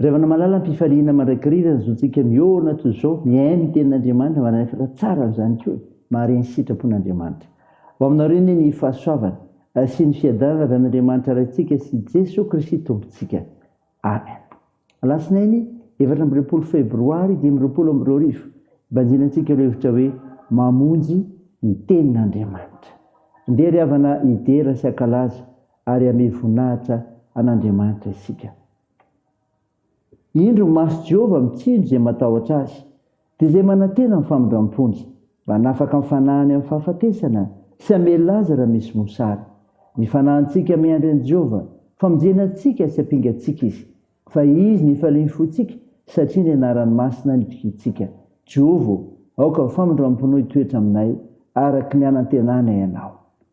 Raivana malala ampifaliana mandrakariva ny zontsika miorina toy izao mihaino ny tenin'Andriamanitra manalefaka tsara amin'izany koa e! mahare ny sitrapon'Andriamanitra ho aminareo anie ny fahasoavany sy ny fiadanana avy amin'Andriamanitra Raintsika sy Jeso Kristy Tompontsika Amen Alatsinainy efatra amby roapolo febroary dimy amby roapolo amby roa arivo banjina antsika ireo hevitra hoe mamonjy ny tenin'Andriamanitra ndeha ry havana hidera sy hakalaza ary hamehy voninahitra an'Andriamanitra isika. Indro, maso Jehovah mitsinjo izay matahotra azy, dia izay manantena ny famindram-pony, mba hanafaka ny fanahiny amin'ny fahafatesana sy hamelona azy raha misy mosary. Ny fanahintsika miandry an'i Jehovah, famonjena antsika sy ampiangatsika izy, fa izy no ifalian'ny fontsika, satria ny anarany masina no itokiantsika. Jehovah ô, aoka ny famindram-ponao hitoetra aminay, araka ny hanantenanay anao.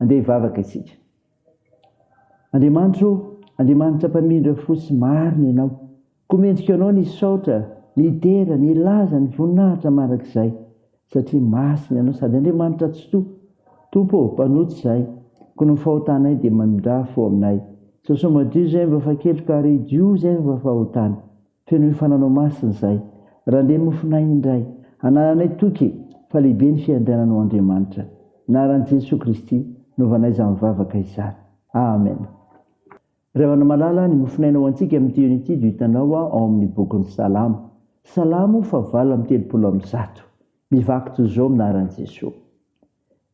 Andeha hivavaka isika. Andriamanitro ô, Andriamanitra Mpamindra fo sy marina Ianao, koa mendrika Anao ny hisaotra, ny hidera, ny hilaza ny voninahitra mandrakizay, satria masina Ianao sady Andriamanitra Atsitoha. Tompo ô, mpanota izahay, koa ny fahotanay dia mamindrà fo aminay. Sao sao madio izay vao fa keloka ary idio izay vao fa fahotana. Feno hoe fananao masina izahay. Randre mofonay indray. Anananay toky fa lehibe ny fiandrianana ho Andriamanitra. Naran'i Jesoa Kristy novanay izany vavaka izany. Amen. Ry havana malala, ny mofonaina ho antsika amin'ity eny ity do hitanao ao amin'ny bokin'ny Salamo. Salamo fahavalo amby telopolo amby zato. Mivaky toy izao minaran'i Jesoa.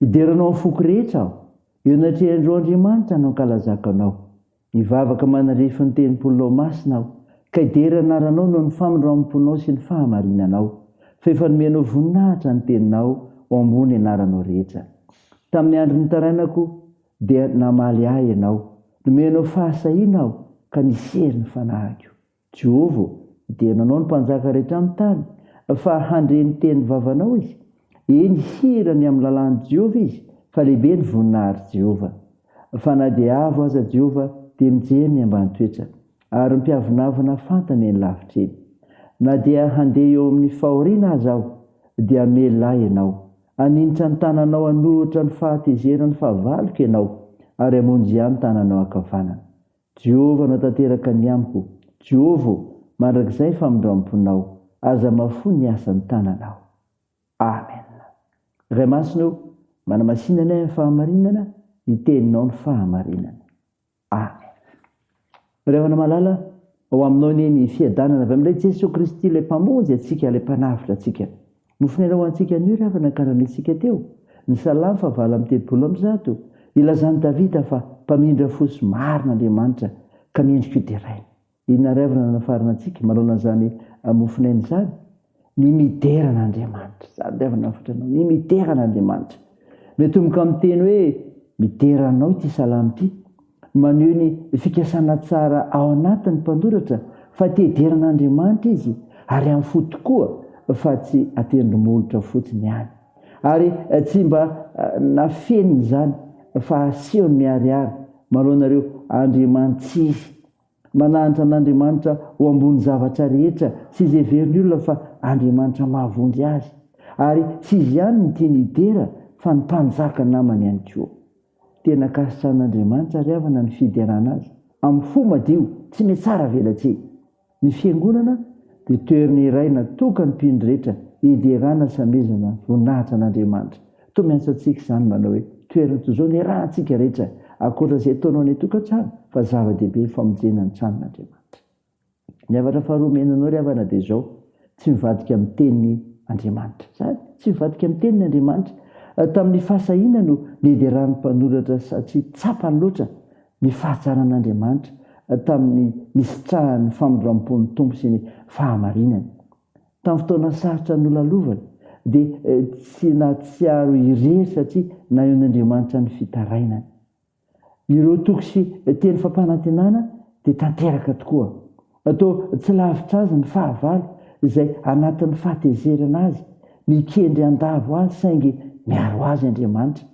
Hidera anao amin'ny foko rehetra aho. Eo anatrehan'ireo andriamanitra no hankalazako anao. Hivavaka manarefy ny tempolinao masina aho, ka hidera ny anaranao noho ny famindramponao sy ny fahamarinanao, fa efa nomenao voninahitra ny teninao ho ambony anaranao rehetra. Tamin'ny andro nitarainako, dia namaly ahy ianao. Nomenao fahasahiana aho, ka nisery ny fanahiko. Jovo, dia nanao ny mpanjaka rehetra amin'ny tany, fa handre ny teny vavanao izy, eny hihira ny amin'ny lalàn'i Jehovah izy, fa lehibe ny voninahitr'i Jehovah. Fa na dia avo aza Jehovah, dia mijery ny ambany toetra, ary mpiavonavona fantany eny lavitra eny. Na dia handeha eo amin'ny fahoriana aza aho, dia hamelona ahy ianao, haninitra ny tananao hanoritra ny fahatezeran'ny fahavaloko ianao, ary hamonjy ahy ny tananao ankavanana. Jehovah no tanteraka ny amiko. Jehovah ô, mandrakizay ny famindram-ponao, aza mahafoy ny asan'ny tananao. Amen. Ray Masina ô, manamasina anay amin'ny fahamarinana, ny Teninao no fahamarinana. Amen. Ray havana malala, ao Aminao anie ny fiadanana avy amin'ilay Jesoa Kristy, ilay Mpamonjy antsika, ilay Mpanavotra antsika. Nofonaina ho antsika anio ry havana karahan'iltsika teo, ny Salamo faha valo amby telopolo amby zato, ilazan'i Davida fa mpamindra fo sy marina Andriamanitra ka mendrika ho deraina. Inona ary havana no anafarana antsika manaona an'izany mofonaina izany? Ny midera an'Andriamanitra. Izany ry havana hafatra anao, ny midera an'Andriamanitra. Miatomboka amin'ny teny hoe midera anao ity Salamo ity. Maneho ny fikasana tsara ao anatin'ny mpanoratra fa te hidera an'Andriamanitra izy ary amin'ny fo tokoa fa tsy an-tendromolotra fotsiny ihany. Ary tsy mba nafeniny izany fa asehony miharihary manoloana ireo andriamanitsy izy. Manahantra an'Andriamanitra ho ambony zavatra rehetra sy izay heverin'ny olona fa Andriamanitra mahavonjy azy. Ary tsy izy ihany no tiany hidera fa ny mpanjaka namany ihany koa. Tena ankasitrahan'Andriamanitra ry havana ny fiderana Azy amin'ny fo madio tsy mihatsara velatsihy. Ny Fiangonana dia toerana iray natokany mpino rehetra hiderana sy hamezana voninahitra an'Andriamanitra. Mitomy asa antsika izany manao hoe toerana toy izao niarahantsika rehetra ankoatra izay ataonao any an-tokantrano fa zava-dehibe ny famonjena ny tranon'Andriamanitra. Ny havatra faharoa omena anao ry havana dia izao, tsy mivadika amin'ny teniny Andriamanitra. Izany, tsy mivadika amin'ny teniny Andriamanitra. Tamin'ny fahasahiana no niederan'ny mpanoratra satria tsapany loatra ny fahatsaran'Andriamanitra tamin'ny nisitrahan'ny famindram-pon'ny Tompo sy ny fahamarinany. Tamin'ny fotoana sarotra nolalovany, dia tsy nahatsiaro irery satria nanehoan'Andriamanitra ny fitarainany. Ireo toko sy teny fampanantenana dia tanteraka tokoa. Toa tsy lavitra azy ny fahavalo, izay anatin'ny fahatezerana azy, mikendry handavo azy saingy miaro azy Andriamanitra.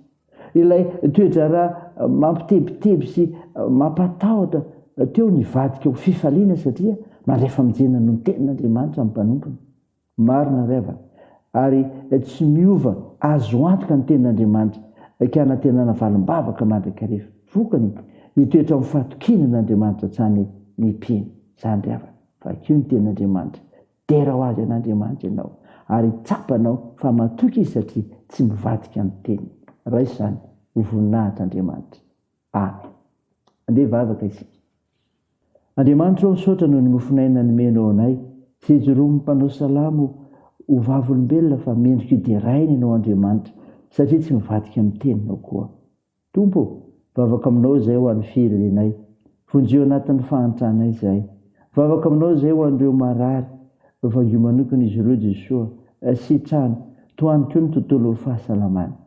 Ilay toe-draharaha mampitebiteby sy mampatahotra teo nivadika ho fifaliana satria mandray famonjena noho ny Tenin'Andriamanitra ny mpanompony. Marina ry havana, ary tsy miova azo antoka ny Tenin'Andriamanitra ka hanantenana valim-bavaka mandrakariva. Vokany, hitoetra amin'ny fahatokiana an'Andriamanitra hatrany ny mpino. Izany ry havana. Vakio ny Tenin'Andriamanitra. Dera ho azy an' Andriamanitra ianao, ary tsapanao fa matoky Izy satria tsy mivadika ny teniny. Raiso izany ho voninahitr' Andriamanitra. Amen. Andeha hivavaka isika. Andriamanitra o, misaotra noho ny mofon'aina nomenao anay. Hijoroa ny mpanao salamo ho vavolombelona fa mendrika ho deraina ianao Andriamanitra, satria tsy mivadika ny teninao koa. Tompo ô, vavaka aminao izahay ho an'ny firenenay. Vonjio anatin'ny fahantrana izahay. Vavaka aminao izahay ho an'ireo marary. Vangio manokana izy ireo Jesoa. Sitrano. Tohano koa ny tontolo fahasalamana.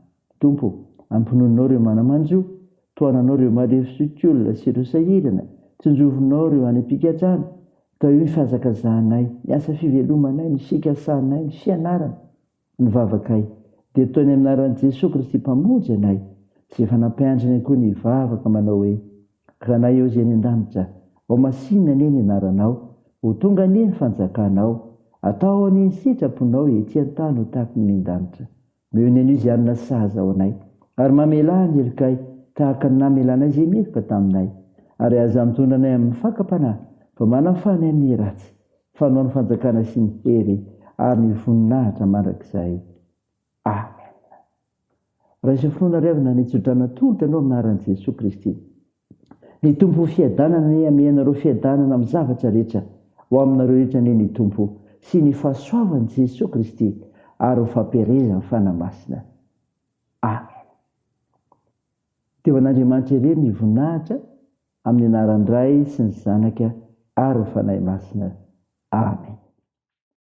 Tompo ô, ampinoninao ireo mana-manjo. Tohananao ireo marefo sy otiolona sy ireo sahirana. Tsinjovinao ireo any am-pigadrana. Tahio ny fihazakazahanay, ny asa fivelomanay, ny fikasanay, ny fianarana. Ny vavakay dia toy ny anaran'i Jesoa Kristy Mpamonjy anay sy efa nampianatra ny ankohony hivavaka manao hoe, Ranay ao izay any an-danitra, ao masinina anie ny anaranao, ho tonga anie ny fanjakanao, atao anie ny sitraponao ety an-tany ho tahaka ny any an-danitra. Meo ny anio izay hanana sazy ao anay, ary mamelà ny helokay tahaka ny namelanay izay meloka taminay, ary aza mitondra anay amin'ny fakam-panahy fa manafana ny amin'ny ratsy, Fanao ny fanjakana sy ny hery ary ny voninahitra mandrakizay. Amen. Raiso finoana ry havana ny tsodrano atolotra anao amin'ny anaran'i Jesoa Kristy. Ny Tompo ho fiadanana anie hamea anareo fiadanana amin'ny zavatra rehetra ho aminareo rehetra anie ny Tompo sy ny fahasoavan'i Jesoa Kristy ary ho fampielezan'ny Fanahy Masina. Amen. Dia ho an'Andriamanitra irery ny voninahitra. Amin'ny anaran-dRay sy ny Zanaka ary ny Fanahy Masina. Amena.